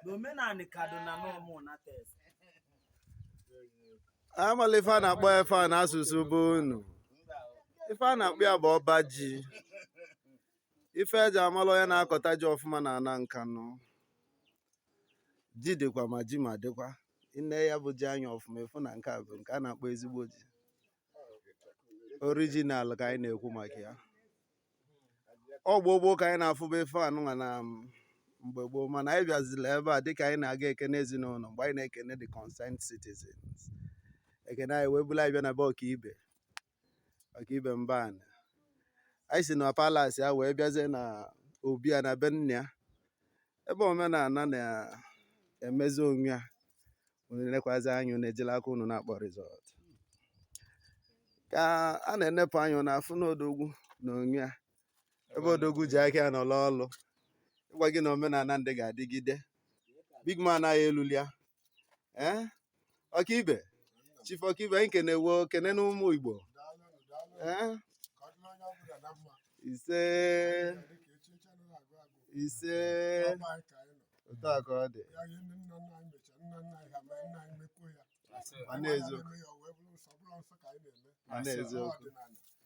n'omenala kaduna nomeh unateze amala ife a na-akpọ ife a n'asụsụ be unu ife a na-akpọ ya bụ ọba ji ife eji amala onye na-akọta ji ọfụma na ana nkanụ ji dịkwa ma ji ma dịkwa i nee ya bụ ji anya ọfụma ị fụ na nke a bụ nke a na-akpọ ezigbo ji original ka anyị na-ekwu maka ya ọ bụ gboo ka anyị na-afụba ife anụnwa na um, mgbe gboo mana anyị bịazila ebe a dịka anyị na-aga ekene ezinụlọ mgbe anyị na-ekene the concerned citizens ekene anyị wee bulu anyị bịa na be ọkaibe ọkaibe mba anị anyị si na palace ya wee bịazie na obi ya na be nna ya ebe omenala na-emezi onwe ya unu enekwazi anya unu ejila aka unu na-akpọ resort ka a na-enepụ anya na-afụ n'odogwu na onwe ya ebe odogwu ji aka ya na-alụ ọlụ ịgwa gị na omenala ndị ga-adịgide big man anyị eluli ya ee ọkaibe chief ọkaibe anyị kenee wo kene na ụmụ igbo ee ise ise otu a ka ọ dị ma n'eziokwu ma n'eziokwu